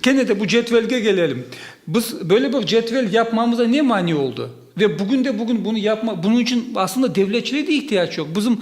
Kene de bu cedvelge kelelim. Biz böyle bir cedvel yapmamıza ne mani oldı? Ve bugün de bugün bunı yapma, bunıñ içün aslında devletçiliğe de ihtiyac yoq. Bizim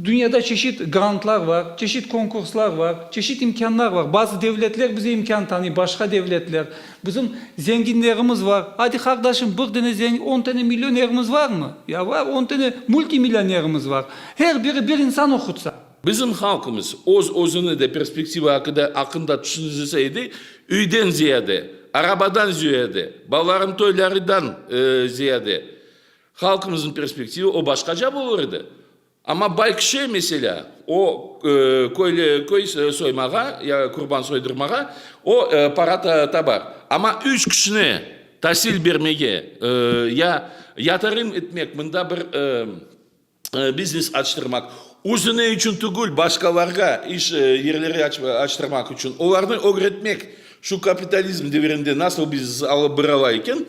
dünyada çeşit grantlar var, çeşit konkurslar var, çeşit imkânlar var. Bazı devletler bize imkân tanıy, başqa devletler. Bizim zenginlerimiz var. Adi, qardaşım, bir dene zengin, on tane millionerimiz varmı? Ya, var, on tane multimillionerimiz var. Her biri bir insan oqutsa. Bizim halqımız öz-özüni de perspektiva aqıda, aqqında tüşündirse edi, üyden ziyade, arabadan züyade, balalarınıñ toylarıdan ziyade, halqımızıñ perspektiva o başqaca bolur edi. Amma Baykşe, meselâ, o, köyle, köy soymağa ya qurban soydırmağa o, para tabar. Amma üç kişine tasil bermege ya yatırım etmek, mında bir biznes açtırmaq, özüne içün tügül, başqalarğa iş yerleri açtırmaq içün, olarnı ögretmek, şu kapitalizm devirinde nasıl biznes alıp bırala eken,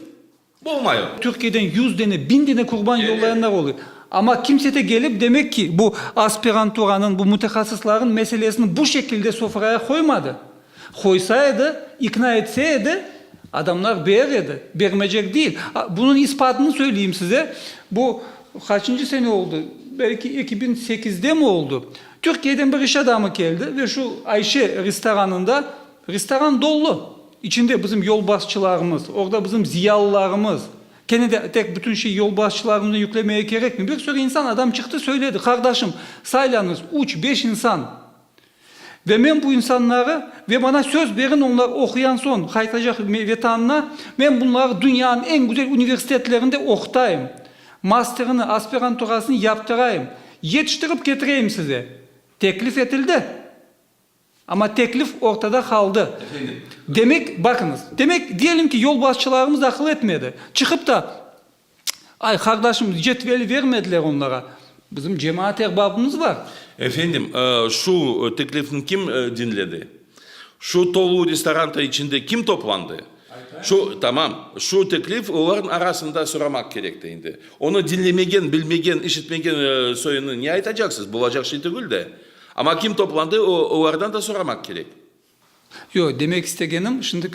Bolmay o. Türkiyeden yüz dene, biñ dene qurban yollayanlar oluy. Amma kimse de kelip, demek ki, bu aspiranturanıñ, bu mütehassıslarnıñ meselesini bu şekilde sofraya qoymadı. Qoysa edi, ikna etse edi, adamlar berer edi, bermecek değil. Bunıñ ispatını söyleyim size, bu qaçıncı sene oldu, belki eki biñ sekizdemi oldu, Türkiyeden bir iş adamı keldi ve şu Ayşe restoranında Restoran dollu, içinde bizim yolbaşçılarımız, orda bizim ziyalılarımız. Kene de tek bütün şey yolbaşçılarımıznı yüklemeye kerekmi? Bir sürü insan, adam çıqtı, söyledi, qardaşım, saylanıız, üç, beş insan ve men bu insanları ve bana söz beriñ, onlar oquyan soñ qaytacaq Vetanına, men bunları dünyanıñ eñ güzel universitetlerinde oqutayım, masterini, aspiranturasını yaptırayım, yetiştirip ketireyim size. Teklif etildi. Amma teklif ortada qaldı. Demek, baqıñız, demek, diyelim ki, yolbaşçılarımız aqıl etmedi, çıqıp da, ay, qardaşım, cetveli vermediler onlara, bizim cemaat erbabımız bar. Efendim, şu teklifni kim diñledi? Şu tolu restoranta içinde kim toplandı? Şu, tamam, şu teklif olarnıñ arasında soramaq kerekti endi. Onı diñlemegen, bilmegen, işitmegen soyunı ne aytacaqsız? Bulacaq şey tügül de. Amma kim toplandı, olardan da soramaq kerek. Yoq, demek istegenim, şimdi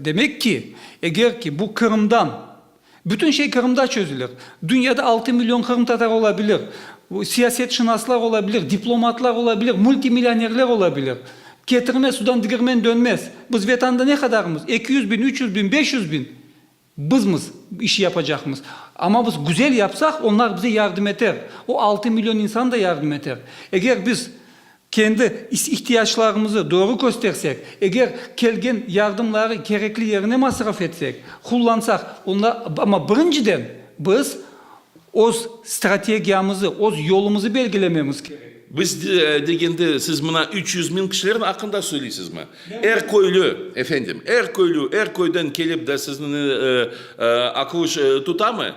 demek ki, eger ki bu Qırımdan, bütün şey Qırımda çözülir, dünyada altı million qırımtatar ola bilir, siyasetşınaslar ola bilir, diplomatlar ola bilir, multimillionerler ola bilir, ketirme sudan digirmen dönmez, biz vatanda ne qadarımız, eki yüz biñ, üç yüz biñ, beş yüz biñ, Bizmiz bu işi yapacaqmız. Amma biz güzel yapsaq, onlar bize yardım eter. O altı million insan da yardım eter. Eger biz kendi ihtiyaclarımızı doğru köstersek, eger kelgen yardımları kerekli yerine masraf etsek, qullansaq, onda, amma birinciden biz, Öz strategiyamızı, öz yolumızı belgilememiz kerek. Biz degende siz mına üç yüz miñ kişiler aqqında söyleysizmi? Er köylü, efendim, er köylü, er köyden kelip de sizni aqıuş tutamı?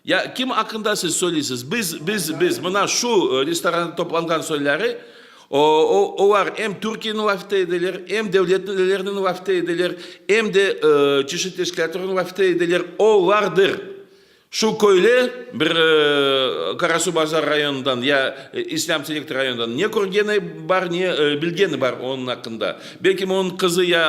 Ya kim aqqında siz söyleysiz? Biz, biz, biz, mına şu restoranda toplanğan soyları, olar em Türkiyeniñ lafite edeler, em devlet liderleriniñ lafite edeler, em de çeşit teşkilâtlarnıñ lafite edeler, olardır. Şu köyle bir Qarasuvbazar rayonından ya İslâm Terek rayonından ne körgeni bar, ne bilgeni bar onıñ aqqında. Belkim onıñ qızı ya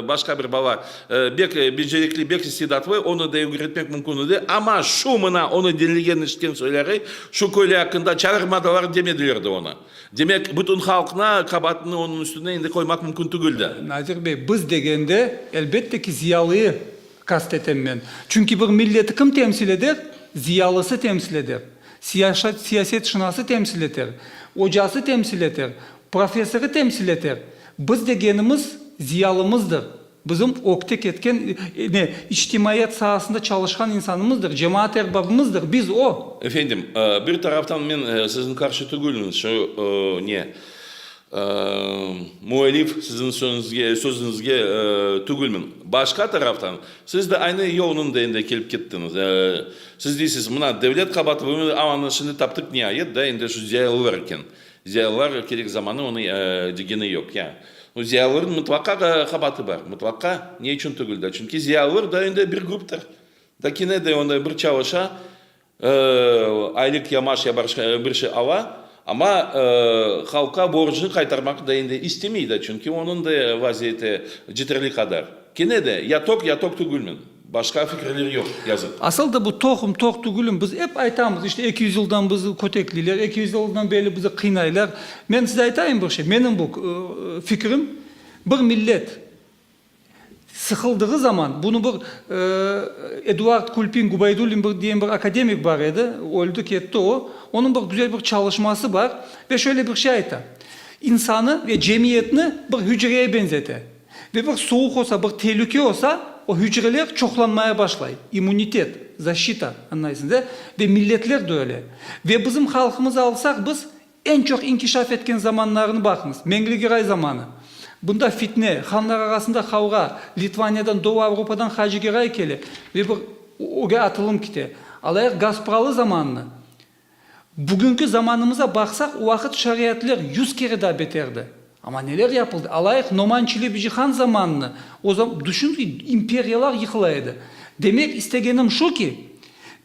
başqa bir bala bek becerikli, bek istidatlı, onı da ögretmek mümkün edi. Amma şu mına onı dinlegen, işitken soyları şu köyle aqqında çağırmadılar, demediler de onı. Demek, bütün halqna qabaatını onıñ üstüne indi qoymaq mümkün tügüldi. Nazir bey, biz degende, elbette ki, ziyalıyı Qast etem men. Çünki bir milleti kim temsil eder? Ziyalısı temsil eder, siyasetşınası temsil eter, ocası temsil eter, professorı temsil eter. Biz degenimiz ziyalımızdır, bizim ökte ketken, ne, içtimaiyat saasında çalışqan insanımızdır, cemaat erbabımızdır, biz o. Efendim, bir taraftan men siziñ qarşı tügülmen, şu, ne, Müellif, siziñ sözüñizge tügülmen. Başqa taraftan, siz de aynı yol nındainde kelip kettiñiz. Siz deysiz, mına, devlet qabaatı bulunuv, amma anı şimdi taptıq niayet, da, endi şu ziyalılar eken. Ziyalılar kerek zamanı onı degeni yoq. Ya, o ziyalılarnıñ mıtlaqa da qabaatı bar, mıtlaqa. Ne içün tügül da? Çünki ziyalılar da endi bir gruptır. Da kene de onda bir çalışa, Aylık yamaş ya başqa bir şey ala, amma halqqa borcunı qaytarmaq da endi istemey da, çünki onıñ da vaziyeti ceterli qadar. Kene de, ya toq, ya toq tügülmiñ. Başqa fikirler yoq, yazıq. Asıl da bu toqum, toq tügülim. Biz ep aytamız, işte, eki yüz yıldan bizi kötekleyler, eki yüz yıldan beri bizi qıynaylar. Men size aytayım bir şey, menim bu fikrim, bir millet, Sıqıldığı zaman, bunı bir Eduard Kulpin Gubaydullin bir diyen bir akademik bar edi, öldi ketti o, onıñ bir güzel bir çalışması bar ve şöyle bir şey ayta, İnsanı ve cemiyetni bir hücreye benzete ve bir soğuq olsa, bir telüke olsa, o hücreler çoqlanmaya başlay, immunitet, zaşita, anlaysıñız, e? Ve milletler de öyle. Ve bizim halqımızı alsaq biz, Eñ çoq inkişaf etken zamanlarını baqıñız, Mengli-Giray zamanı. Bunda fitne, hanlar arasında qavğa, Litvaniyadan, Doğu Avrupadan Hacı Giray kele ve bir öge atılım kite. Alayıq Gaspıralı zamanını. Bugünki zamanımıza baqsaq, o vaqıt şariyatler yüz kere daa beterdi. Amma neler yapıldı? Alayıq, Noman Çelebici han zamanını, o zam, düşüniz ki, imperiyalar yıqıla edi. Demek istegenim şu ki,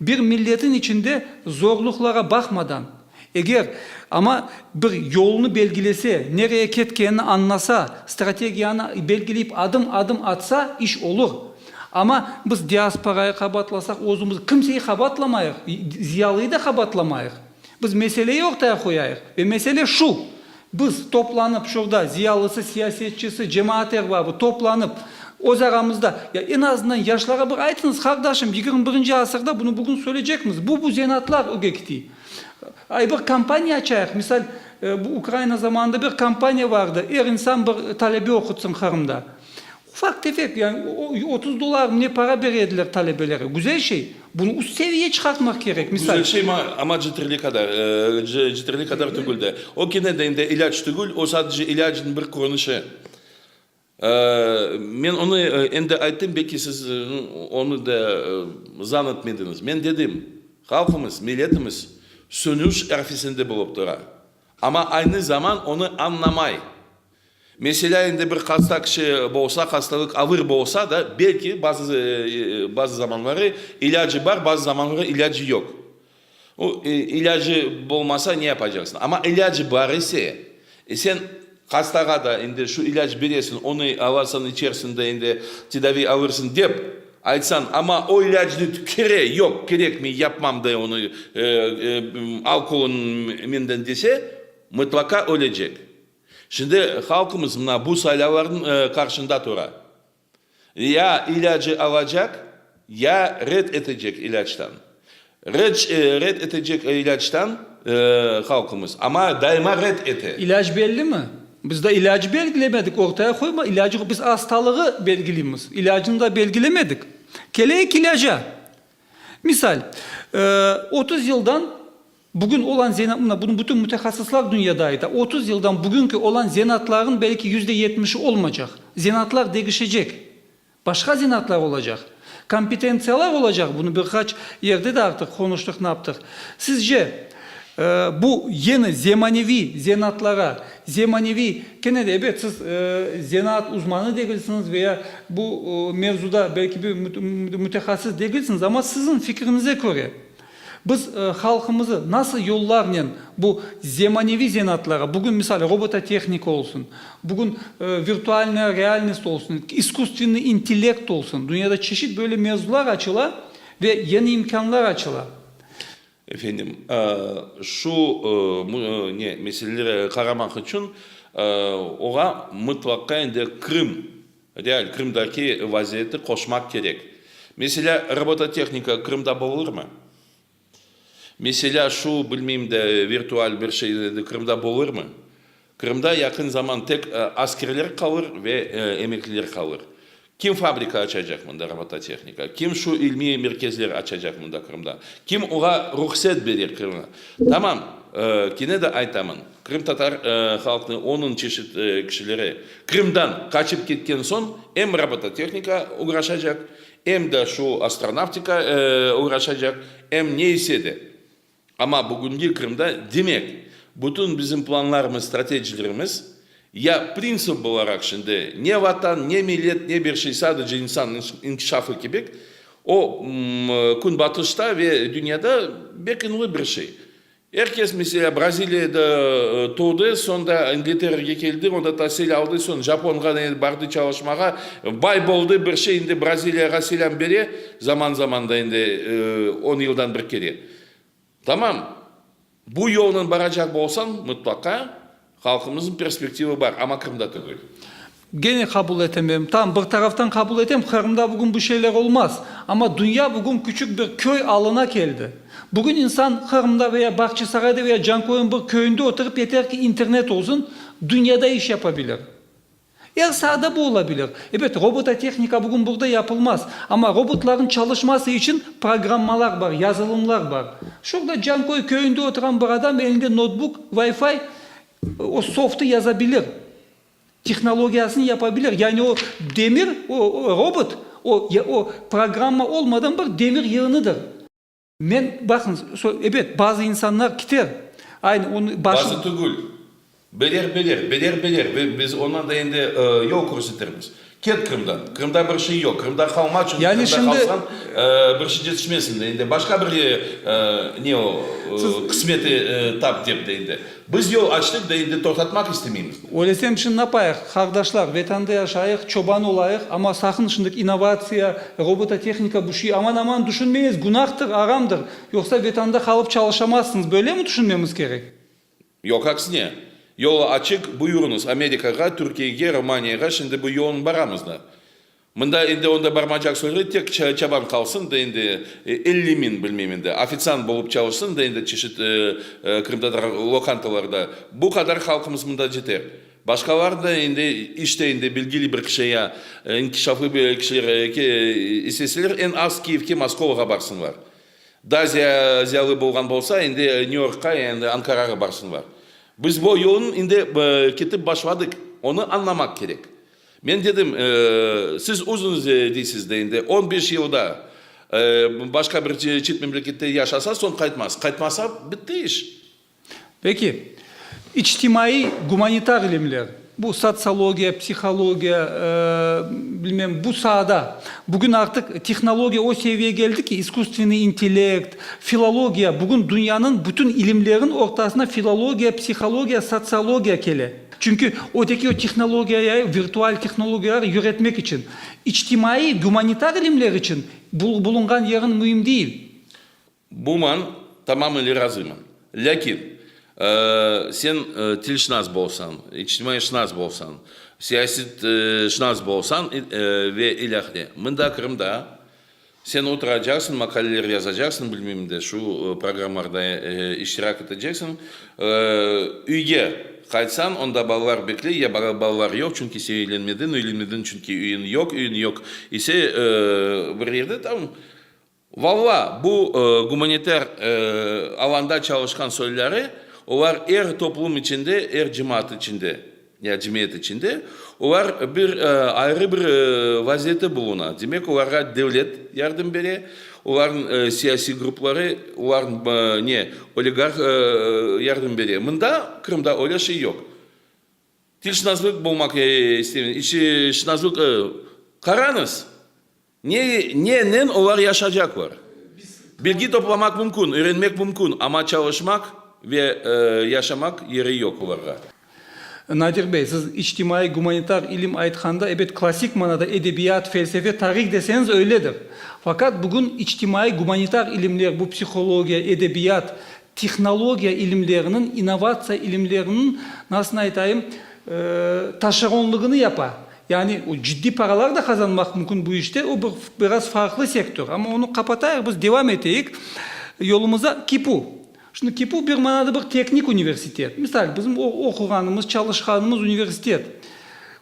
bir milletin içinde zorluqlara baqmadan, eger, amma bir yolunı belgilese, nereye ketkenini añlasa, strategiyanı belgileyip adım, adım atsa, iş olur. Amma biz diasporayı qabaatlasaq, özümiz, kimseyi qabaatlamayıq, ziyalıyı da qabaatlamayıq. Biz meseleyi ortaya qoyayıq. Ve mesele şu. Biz, toplanıp, şurda, ziyalısı, siyasetçisi, cemaat erbabı, toplanıp, öz aramızda, ya eñ azından yaşlara bir aytıñız, qardaşım, yigirmi birinci asırda bunı bugün söyleycekmiz, bu, bu zenatlar öge kiti. Ay, bir kampaniya açayıq, misal, bu Ukraina zamanında bir kampaniya vardı, er insan bir talebe oqutsın Qırımda. Ufaq-tefek, yani otuz dollarmı ne para bere ediler talebelere. Güzel şey. Bunı üst seviye çıqartmaq kerek. Misal. Güzel şey, amma ceterli qadar, ceterli qadar tügül de. O kene de indi ilâc tügül, o sadece ilâcnıñ bir körünişi. Men onı endi ayttım, belki siz onı da zan etmediñiz. Men dedim, halqımız, milletimiz sönüş arfesinde bolıp tura, amma aynı zaman onı añlamay. Meselâ, endi bir hasta kişi bolsa, hastalıq avır bolsa da, belki bazı, bazı zamanları ilâcı bar, bazı zamanları ilâcı yoq. O, ilâcı bolmasa ne yapacaqsıñ? Amma ilâcı bar ise, sen hastağa da endi şu ilâc beresiñ, onı alasıñ, içersiñ de endi tedaviy alırsıñ dep aytsañ, amma o ilâcnı tükere, yoq, kerek, men yapmam de onı, al qoluñ menden dese, mıtlaqa ölecek. Şimdi halqımız mına bu saylavlarnıñ qarşında tura. Ya ilâcı alacaq, ya red etecek ilâçtan. Red red etecek ilâçtan halqımız, amma daima red ete. İlâc bellimi? Biz daa ilâcı belgilemedik, ortaya qoyma ilâcı. Biz astalığı belgileymiz, ilâcını da belgilemedik. Keleyik ilâca. Misal, otuz yıldan. Bugün olan zena, mına, bunı bütün mütehassıslar dünyada ayta, otuz yıldan bugünki olan zenaatlarnıñ belki yüzde yetmişi olmaycaq. Zenaatlar degişecek. Başqa zenaatlar olacaq. Kompetentsiyalar olacaq, bunı bir qaç yerde de artıq qonuştıq, naptıq. Sizce, e, bu yeni zemaneviy zenaatlara, zemaneviy, kene de, ebet, siz, e, zenaat uzmanı degilsiñiz ve ya bu, e, mevzuda belki bir müt, müt, mütehassıs degilsiñiz, amma siziñ fikriñize köre, Biz halqımızı nasıl yollarnen bu zemaneviy zenaatlarğa, bugün misal robototehnika olsun, bugün virtualnıy realnost olsun, iskustvennıy intellekt olsun, dünyada çeşit böyle mevzular açıla ve yeni imkânlar açıla. Efendim, şu ne meselelere qaramaq içün oğa mıtlaqta endi Krım Real Qırımdaki vaziyeti qoşmaq kerek. Meselâ, robototehnika Qırımda bolurmı? Meselâ, şu, bilmeyim de, virtual bir şey Qırımda bolurmı? Qırımda yaqın zaman tek askerler qalır ve emekliler qalır. Kim fabrika açacaq mında robototehnika? Kim şu ilmiy merkezler açacaq mında Qırımda? Kim oğa ruhset berer Qırımda? Tamam, kene de aytamın. Qırımtatar halqnı onıñ çeşit kişileri Qırımdan qaçıp ketken soñ em robototehnika uğraşacaq, em de şu astronavtika uğraşacaq, em ne ise de. Amma bugünki Qırımda, demek, bütün bizim planlarımız, stratejilerimiz ya printsip olaraq şimdi ne vatan, ne millet, ne bir şey, sadece insan inkişafı kibik, o Künbatışta ve dünyada bek ünlü bir şey. Er kes, meselâ, Braziliyada tuvdı, soñ da İngilterege keldi, onda tasil aldı, soñ Japonğa ne bardı çalışmağa, bay boldı, bir şey, endi Braziliyağa selâm bere, zaman-zamanda, endi on yıldan bir kere. Tamam, bu yolnen baracaq bolsañ, mıtlaqa Halqımıznıñ perspektivı bar, amma Qırımda tügül. Gene qabul etemem. Tamam, bir taraftan qabul etem, Qırımda bugün bu şeyler olmaz. Amma dünya bugün küçük bir köy alına keldi. Bugün insan Qırımda ve ya Bağçasarayda ve ya Cankoyuñ bir köyünde oturıp, yeter ki internet olsun, dünyada iş yapabilir. Er sahada bu ola bilir. Ebet, robototehnika bugün burada yapılmaz. Amma robotlarnıñ çalışması içün programmalar bar, yazılımlar bar. Şurada Canköy köyünde oturan bir adam elinde notbuk, Wi-Fi, o softı yaza bilir, tehnologiyasını yapa bilir. Yani o demir, o robot, o programma olmadan bir demir yığınıdır. Men, baqıñız, so, ebet, bazı insanlar kiter, aynı onı başı. Bazı tügül, beler, beler, beler, beler, ve biz ondan da endi, e, yol körsetirmiz. Ket Qırımdan, Qırımda bir şey yoq, Qırımda qalma, çünki Yani Qırımda şimdi- qalsañ, e, bir şey cetişmezsiñ de endi başqa bir, e, e, ne o, e, qısmeti, e, tap dep de endi. Biz yol açtıq da endi toqtatmaq istemeymiz. Öylesem çınlapayıq, qardaşlar, Vatanda yaşayıq, çoban olayıq, amma saqın şındaki innovatsiya, robototehnika bu şey aman-aman tüşünmeyiz, günahtır, aramdır, yoqsa Vatanda qalıp çalışamazsıñız, böylemi tüşünmemiz kerek? Yoq, aksine, yol açıq, buyurıñız, Amerikağa, Türkiyege, Romaniyağa, şimdi bu yolnen baramız da. Mında endi onda barmacaq soyğıy tek çaban qalsın da endi, elli miñ bilmeyim endi, ofitsiant bolıp çalışsın da endi çeşit qırımtatar lokantalarda. Bu qadar halqımız mında ceter. Başqalar da endi işte endi bilgili bir kişi ya inkişaflı bir kişiler isteseler eñ az Kiyevge, Moskovağa barsınlar. Daa ziyalı bolğan bolsa endi New Yorkqa ya endi Ankarağa barsınlar. Biz bu yolnıñ endi ketip başladıq, onı añlamaq kerek. Men dedim, siz özüñiz deysiz, deñde on beş yıl da başqa bir çet memlekette yaşasa, soñ qaytmaz. Qaytmasa, bitti iş. Peki, içtimaiy, gumanitar ilimler, bu sotsiologiya, psihologiya, bilmem, bu saada bugün artıq tehnologiya o seviyege keldi ki, isküstvenniy intellekt, filologiya, bugün dünyanıñ bütün ilimleriñ ortasına filologiya, psihologiya, sotsiologiya kele. Çünki öteki o tehnologiya ya virtual tehnologiyalar öğretmek içün, içtimaiy, gumanitar ilimler içün bulunğan yeriñ müim değil. Bu man tamam ile razıyman. Lâkin sen tilşnas bolsañ, içtimaiy-şnas bolsañ, siyasetşnas bolsañ ve ilâhre, mında Qırımda, Sen oturacaqsıñ, maqaleler yazacaqsıñ, bilmeyim de, şu programlarda iştirak eteceksiñ. Üyge qaytsañ, onda balalar bekley, ya balalar yoq, çünki sen üylenmediñ, üylenmediñ, çünki üyiñ yoq, üyiñ yoq ise, bir yerde tam, valla, bu gumanitar alanda çalışqan soyları, olar er toplum içinde, er cemaat içinde. Ya cemiyet içinde olar bir ayrı bir vaziyette buluna. Demek, olarğa devlet yardım bere, olarnıñ siyasiy grupları, olarnıñ ne oligarh yardım bere. Mında, Qırımda öyle şey yoq. Tilşınaslık bulmaq istemiz, şınaslık, qaranıız! Ne, nenen olar yaşacaqlar? Bilgi toplamaq mümkün, öğrenmek mümkün, amma çalışmaq ve yaşamaq yeri yoq olarğa. Nadir bey, siz içtimaiy-gumanitar ilim aytqanda, ebet, klassik manada edebiyat, felsefe, tarih deseñiz öyledir. Faqat bugün içtimaiy-gumanitar ilimler, bu psihologiya, edebiyat, tehnologiya ilimleriniñ, innovatsiya ilimleriniñ, nasılını aytayım, taşeronlığını yapa. Yani o ciddiy paralar da qazanmaq mümkün bu işte, o bir biraz farqlı sektör, amma onı qapatayıq biz, devam eteyik yolumıza. KİPU, şimdi KİPU bir manada bir teknik universitet, misal, bizim oquğanımız, çalışqanımız universitet,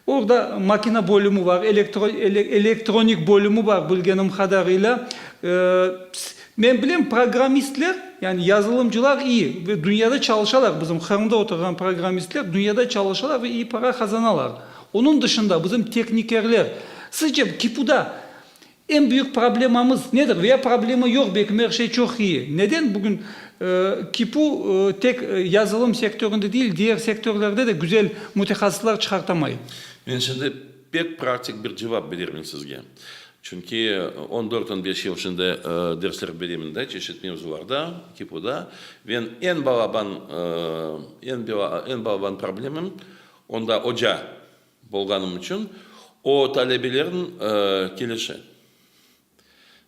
orda makina bölümü bar, elektro elektronik bölümü bar, bilgenim qadarıyla. Men bilem, programmistler, yani yazılımcılar iyi ve dünyada çalışalar, bizim Qırımda oturğan programmistler dünyada çalışalar ve iyi para qazanalar. Onıñ dışında bizim tehnikerler, sizce KİPUda eñ büyük problemamız nedir veya problema yoq, belki her şey çoq iyi, neden bugün KİPU tek yazılım sektöründe değil, diğer sektörlerde de güzel mütehassıslar çıqartamay? Men şimdi pek praktik bir cevap berermen sizge. Çünki on dört, on beş yıl şimdi dersler beremen de, çeşit mevzularda KİPUda. Ve eñ balaban, eñ balaban problemam, Onda oca bolğanım içün o talebelerniñ kelişi.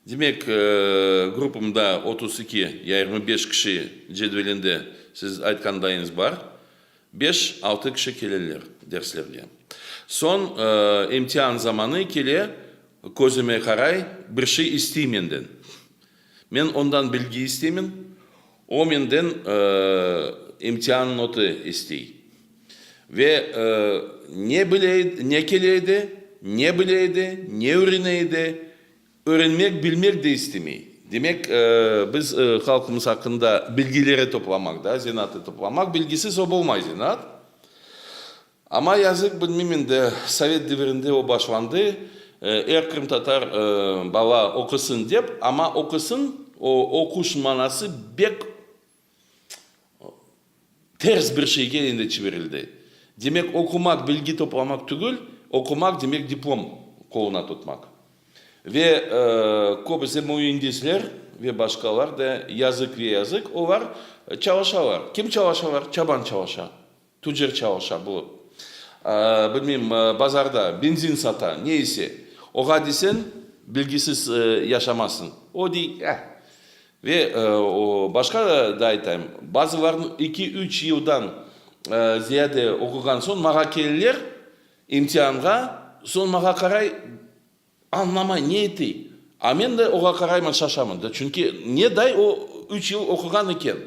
Demek, gruppamda otuz iki ya yirmi beş kişi cedvelinde siz aytqandañız bar, beş, altı kişi keleler derslerge. Soñ imtian zamanı kele, közüme qaray, bir şey istey menden. Men ondan bilgi isteymen, o menden imtian notı istey. Ve ne bile edi, ne kele edi, ne bile edi, ne örene edi, örenmek, bilmek de istemey. Demek, biz halqımız aqqında bilgileri toplamak da, zenaatı toplamak, bilgisiz o bolmay zenaat. Amma yazıq bilmim endi, sovet devirinde o başlandı, er qırımtatar bala oqusın dep, amma oqusın, o oquş manası bek ters bir şeyge endi çivirildi. Demek oqumaq bilgi toplamaq tügül, oqumaq demek diplom qoluna tutmaq. Ve köbüse müendisler ve başqalar da yazıq ve yazıq olar çalışalar. Kim çalışalar? Çaban çalışa. Tüccar çalışa, bu, bilmeyim, bazarda benzin sata, ne ise. Oğa desen, bilgisiz yaşamasıñ. O dey, eh. Ve başqa da aytayım, bazılarnıñ eki-üç yıldan ziyade oquğan soñ mağa keleler, imtianğa, soñ mağa qaray, Añlamay ne etey? A men de oğa qarayman şaşamın da, çünki ne day o üç yıl oquğan eken.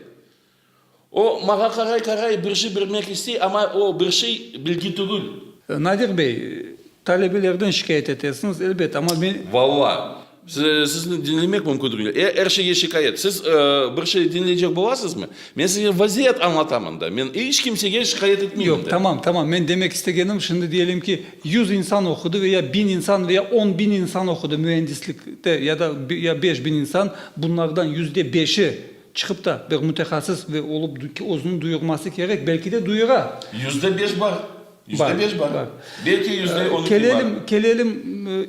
O maña qaray-qaray bir şey bilmek istey, amma o bir şey bilgi tügül. Nadir bey, talebelerden şikâyet etesiñiz, elbet, amma men. Valla, sizni diñlemek mümkün tügül. E, er şeyge şikâyet. Siz bir şey diñleycek bolasızmı? Men size vaziyet añlatamın da, men iç kimsege şikâyet etmeyim de. Yoq, tamam, tamam, men demek istegenim, şimdi diyelim ki, Yüz insan oqudı ve ya biñ insan ve ya on biñ insan oqudı müendislikte ya da ya beş biñ insan, bunlardan yüzde beşi çıqıp da bir mütehassıs ve olup özüniñ duyurması kerek, belki de duyura. Yüzde beş bar, yüzde beş bar, belki yüzde on iki bar. Kelelim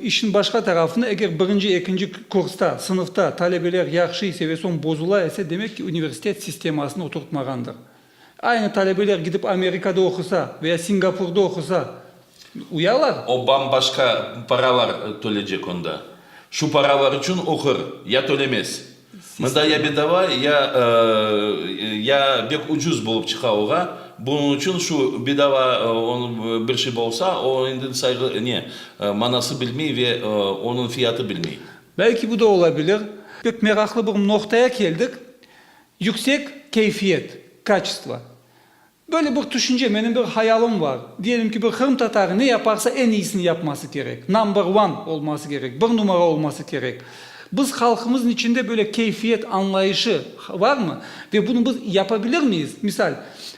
işniñ başqa tarafına, eger birinci, ekinci kursta, sınıfta talebeler yahşı ise ve soñ bozula ise, demek ki, universitet sistemasını oturtmağandır. Aynı talebeler gidip Amerikada oqusa veya Singapurda oqusa uyalar? O bam-başqa paralar tölecek onda. Şu paralar içün oqur, ya tölemez. Mında ya bedava, ya, ya bek ucuz bolıp çıqa oğa. Bunıñ içün şu bedava bir şey bolsa, o endi sayğı, ne, manası bilmey ve onıñ fiyatı bilmey. Belki bu da ola bilir. Pek meraqlı bir noqtaya keldik. Yüksek keyfiyet, kaçestvo. Böyle bir tüşünce, menim bir hayalım var. Diyelim ki, bir qırımtatarı ne yaparsa eñ iyisini yapması kerek, number one olması kerek, bir numara olması kerek. Biz halqımıznıñ içinde böyle keyfiyet añlayışı varmı? Ve bunı biz yapabilir miyiz? Misal,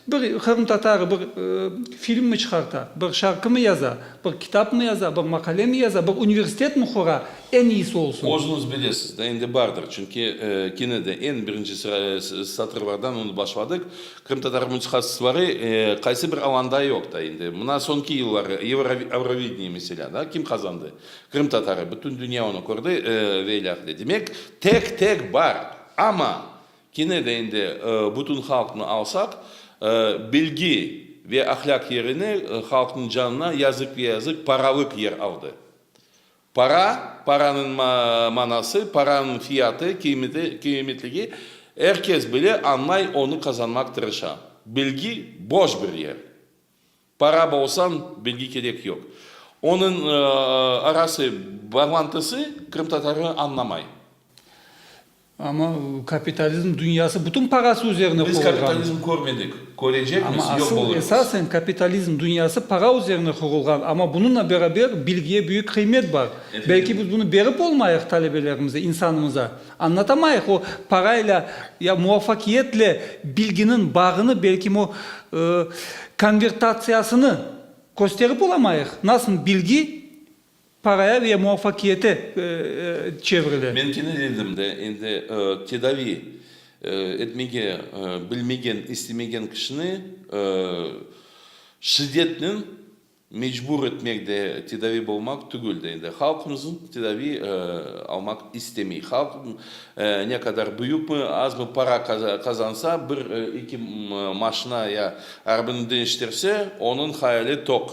bir qırımtatarı bir film mi çıqarta, bir şarkı mı yaza, bir kitap mı yaza, bir maqale mi yaza, bir universitet mi qura? Eñ iyisi olsun. Özüñiz bilesiz de, endi bardır, çünki kene de eñ birinci satırlardan onı başladıq, Krımtatar mıçhasısları qaysı bir alanda yoq da endi. Mına soñki yılları Eurovideniye meselâ da, kim qazandı? Krımtatarı, bütün dünya onı kördi ve ilâ qıta. Demek, tek tek bar. Amma, kene de endi bütün halqnı alsaq, bilgi ve ahlâq yerine halqnıñ canına yazıq ve yazıq paralıq yer aldı. Para, paranıñ manası, paranıñ fiyatı, qıymetligi er kes bile, añlay, onı qazanmaq tırışa. Bilgi, boş bir yer. Para bolsañ, bilgi kerek yoq. Onıñ arası bağlantısı qırımtatarı añlamay. Amma kapitalizm dünyası bütün parası üzerine qurulğan. Biz kapitalizm körmedik, körecekmiz, yoq bolurmız. Amma asıl, esasen kapitalizm dünyası para üzerine qurulğan. Amma bununla beraber bilgiye büyük qıymet bar. Belki biz bunı berip olmayıq talebelerimize, insanımıza. Añlatamayıq o parayla ya muvafakiyetle bilginiñ bağını, belki o konvertatsiyasını kösterip olamayıq. Nasıl bilgi Paraya ve muvafakiyete çevrile. Men kenelledim de, endi tedavi etmege bilmegen, istemegen kişini şiddetnen mecbur etmek de tedavi bolmaq tügül de, endi halqımızın tedavi almaq istemey. Halq ne qadar büyükmi, azmı para qazansa, bir, eki maşina ya arabını deñiştirse, onıñ hayali toq.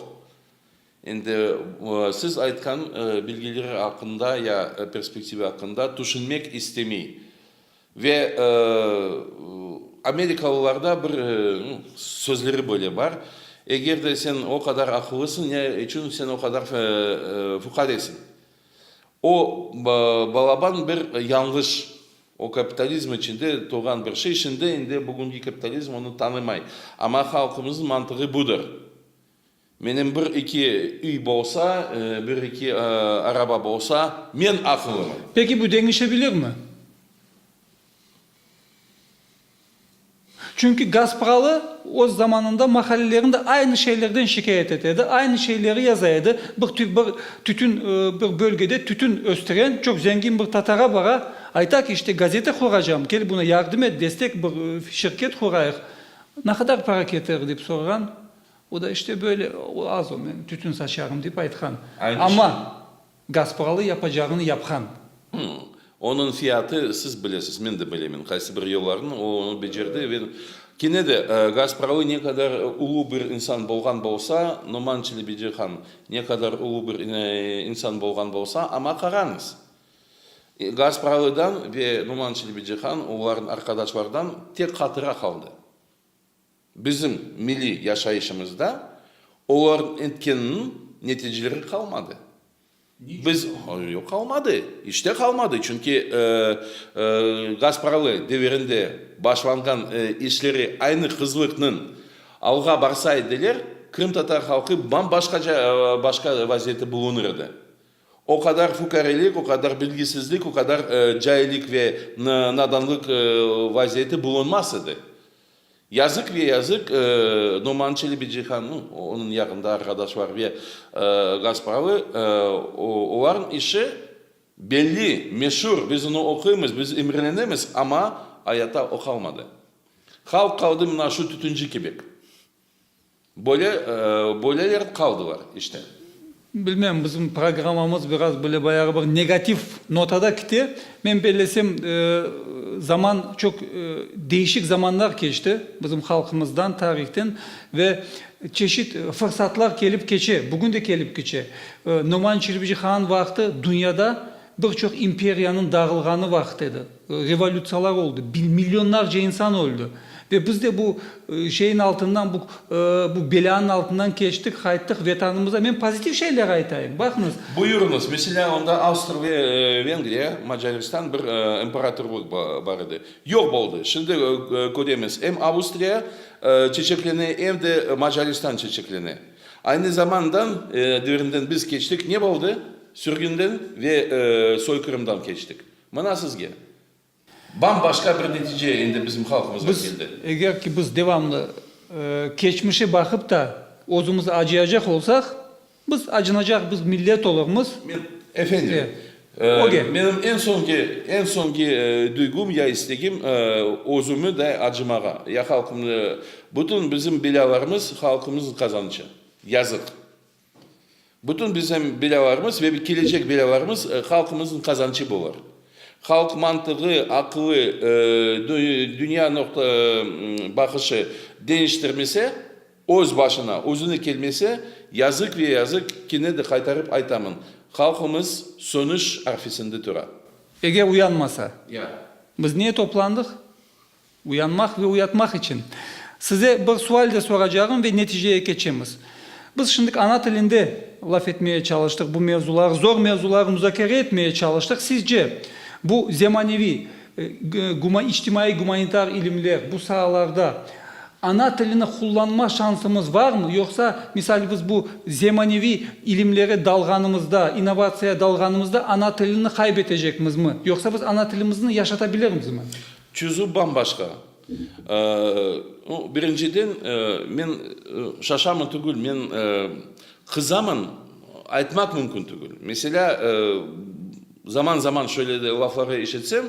Endi siz aytqan bilgileri aqqında ya perspektiva aqqında tüşünmek istemey. Ve amerikalılarda bir sözleri böyle bar, Eger de sen o qadar aqıllısıñ, ne içün sen o qadar fuqaresiñ? O balaban bir yañlış, o kapitalizm içinde tuvğan bir şey, şimdi endi bugünki kapitalizm onı tanımay. Amma halqımıznıñ mantığı budır. Menim bir-iki üy bolsa, bir-iki araba bolsa, men aqılımı. Peki bu deñişebilirmi? Çünki Gaspralı öz zamanında mahallelerinde aynı şeylerden şikâyet ete edi, aynı şeyleri yaza edi, bir tütün, bir bölgede tütün östüren çoq zengin bir tatara bara, ayta ki, işte, gazete quracam, kel buna yardım et, destek, bir şirket qurayıq. Ne qadar para ketirir? dep sorğan. O da işte böyle, o az o, men tütün saçarım dep aytqan. Amma gaz pahalı, yapacağını yapqan. Hımm. Onıñ fiyatı, siz bilesiz, men de bilemen, qaysı bir yollarını o onı becerdi ve kene de gaz pahalı ne qadar ulu bir insan bolğan bolsa, Noman Çelebeci han ne qadar ulu bir insan bolğan bolsa, amma qarañız, gaz pahalıdan ve Noman Çelebeci han, olarnıñ arqadaşlardan tek hatıra qaldı. Bizim milliy yaşayışımızda olarnıñ etkeniniñ neticeleri qalmadı. Biz, yoq, qalmadı, iç te qalmadı, çünki Gaspralı devirinde başlanğan işleri aynı hızlıqnıñ alğa barsa ediler, qırımtatar halqı bam-başqaca başqa vaziyette bulunır edi. O qadar fukarelik, o qadar bilgisizlik, o qadar caillik ve nadanlıq vaziyeti bulunmaz edi. Yazıq ve yazıq Noman Çelebicihan, onıñ yaqında arqadaşları ve Gaspralı, olarnıñ işi belli, meşur, biz onı oquymız, biz imrelenemiz, amma ayatta o qalmadı. Halq qaldı mına şu tütünci kibek. Böyle, böyleler qaldılar işte. Bilmem, bizim programmamız biraz böyle bayağı bir negativ notada kite. Men bellesem, zaman, çoq deñişik zamanlar keçti bizim halqımızdan, tarihten ve çeşit fırsatlar kelip keçe, bugün de kelip keçe. Noman Çilbicihan vaqtı dünyada Bir çoq imperiyanıñ dağılğanı vaqıt edi. Revolütsiyalar oldı, millionlarca insan öldi. Ve biz de bu şeyiñ altından, bu bu belâniñ altından keçtik, qayttıq Vetanımıza. Men pozitiv şeyler aytayım, baqıñız. Buyurıñız. Meselâ, onda Avstır ve Vengriya, Macaristan bir imperatorlıq bar edi. Yoq boldı. Şimdi köremiz, em Avustriya çeçeklene, em de Macaristan çeçeklene. Aynı zamandan devrinden biz keçtik, ne boldı? Sürgünden ve soykırımdan keçtik. Mına sizge. Bam-başqa bir netice endi bizim halqımızğa keldi. Biz, eger ki biz devamlı keçmişe baqıp da özümiz acıyacaq olsaq, biz acınacaq, biz millet olurmız. Men, efendim, Öge. Menim eñ soñki, eñ soñki duygum ya istegim, özümi de acımağa, ya halqımnı, bütün bizim belâlarımız halqımıznıñ qazanıçı. Yazıq. Bütün bizim belâlarımız ve kelecek belâlarımız halqımıznıñ qazanıçı bolar. Halq mantığı, aqılı, dünya noqta baqışı deñiştirmese. Öz başına, özüne kelmese, yazıq ve yazıq, kene de qaytarıp aytamın, halqımız sönüş arfesinde tura. Eger uyanmasa, biz niye toplandıq? Uyanmaq ve uyatmaq içün. Size bir sual de soracağım ve neticeye keçemiz. Biz şimdik ana tilinde laf etmeye çalıştıq, bu mevzular, zor mevzular muzakere etmeye çalıştıq. Sizce, bu zemaneviy İçtimaiy gumanitar ilimler, bu saalarda ana tilini qullanma şansımız varmı, yoqsa, misal, biz bu zemaneviy ilimlere dalğanımızda, innovatsiyaya dalğanımızda ana tilini qaybetecekmizmi, yoqsa biz ana tilimizni yaşatabilirimizmi? Çözüv bam-başqa. Birinciden, men şaşamın tügül, men qızamın aytmaq mümkün tügül. Meselâ, Zaman-zaman şöyle de lafları işitsem,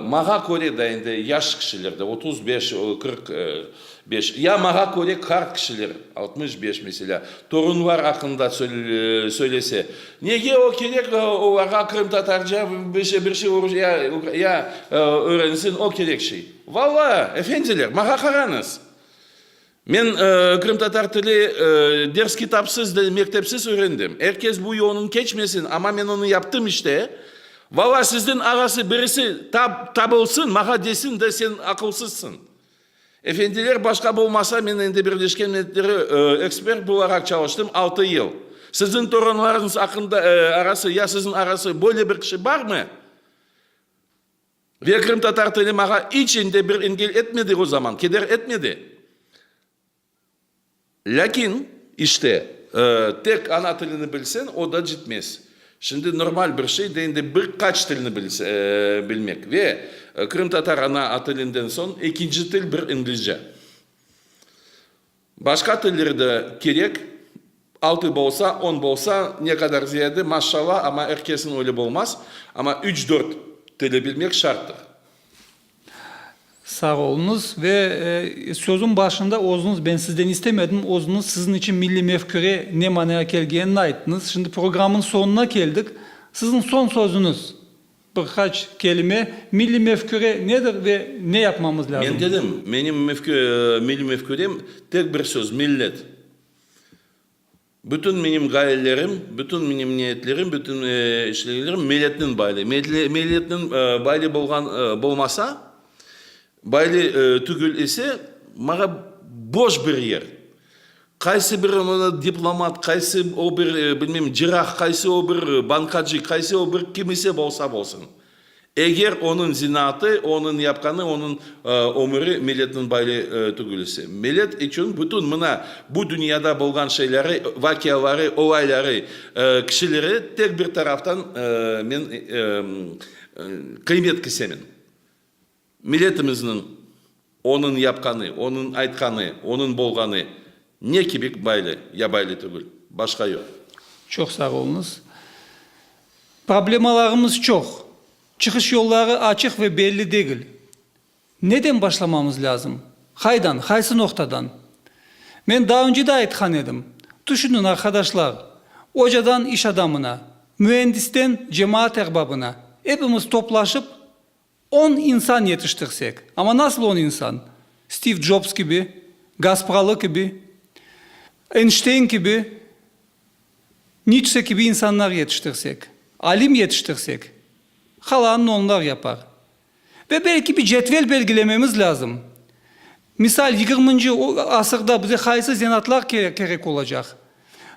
Mağa köre da endi yaş kişiler de, otuz beş, qırq beş, ya mağa köre qart kişiler, altmış beş, meselâ, torunlar aqqında söylese, nege o kerek olarğa qırımtatarca bir şey, bir şey orusça ya öğrensin, o kerek şey? Valla, efendiler, mağa qarañız! Men qırımtatar tili ders kitapsız, mektepsiz öğrendim. Er kes bu yoldan keçmesin, amma men onı yaptım işte. Valla sizden ağası birisi tabılsın, mağa desin de, sen aqılsızsın. Efendiler başqa bolmasa, men endi Birleşken Milletleri ekspert bolaraq çalıştım altı yıl. Sizin torunlarıñız aqqında, arası, ya sizin arası böyle bir kişi barmı? Ve qırımtatar tili mağa iç ende bir engel etmedi o zaman, keder etmedi. Lâkin, işte, tek ana tilini bilseñ, o da cetmez. Şimdi normal bir şey de endi bir qaç tilni bilmek. Ve qırımtatar ana tilinden soñ ekinci til bir İngilizce. Başqa tilleri de kerek, altı bolsa, on bolsa, ne qadar ziyade, maşşalla, amma er kesin öyle bolmaz, amma üç-dört tili bilmek şarttır. Sağ oluñız. Ve sözüñ başında özüñiz, ben sizden istemedim, özüñiz siziñ içün milliy mefküre ne manaya kelgenini ayttıñız. Şimdi programnıñ soñuna keldik. Siziñ soñ sözüñiz. Bir qaç kelime, milliy mefküre nedir ve ne yapmamız lâzım? Men dedim, menim milliy mefkürem tek bir söz, millet. Bütün menim ğayelerim, bütün menim niyetlerim, bütün işlerlerim milletnen bağlı. Milletnen bağlı bolğan, bolmasa, Böyle tügül ise, mağa boş bir yer. Qaysı bir diplomat, qaysı o bir, bilmeyim, cirah, qaysı o bir bankacı, qaysı o bir kim ise bolsa bolsun. Eger onıñ zinaatı, onıñ yapqanı, onıñ ömüri milletniñ böyle tügül ise. Millet içün bütün mına bu dünyada bolğan şeyleri, vaqiaları, olayları, kişileri tek bir taraftan men qıymet kisemen. Milletimizniñ onıñ yapqanı, onıñ aytqanı, onıñ bolğanı ne kibik baylı ya baylı tügül, başqa yoq. Çoq sağ oluñız. Problemalarımız çoq. Çıqış yolları açıq ve belli degil. Neden başlamamız lâzım? Qaydan, qaysı noqtadan? Men daa önce de aytqan edim. Tüşüniñ, arqadaşlar, ocadan iş adamına, müendisten cemaat erbabına, epimiz toplaşıp, On insan yetiştirsek, amma nasıl on insan? Stiv Jobs kibi, Gaspralı kibi, Eynşteyn kibi, Nitşe kibi insanlar yetiştirsek, alim yetiştirsek, qalanını onlar yapar. Ve belki bir cetvel belgilememiz lâzım. Misal, yigirminci asırda bize qaysı zenaatlar kerek olacaq?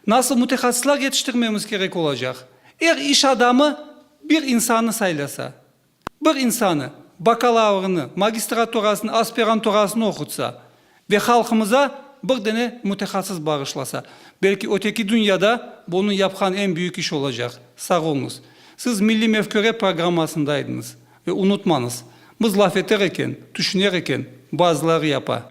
Nasıl mütehassıslar yetiştirmemiz kerek olacaq? Er iş adamı bir insannı saylasa. Bir insanı, bakalavrını, magistraturasını, aspiranturasını oqutsa ve halqımıza bir dene mütehassıs bağışlasa, belki öteki dünyada bu onıñ yapqan eñ büyük işi olacaq. Sağ oluñız. Siz milliy mefküre programmasında eydiniz. Ve unutmañız, biz laf eter eken, tüşüner eken, bazıları yapa.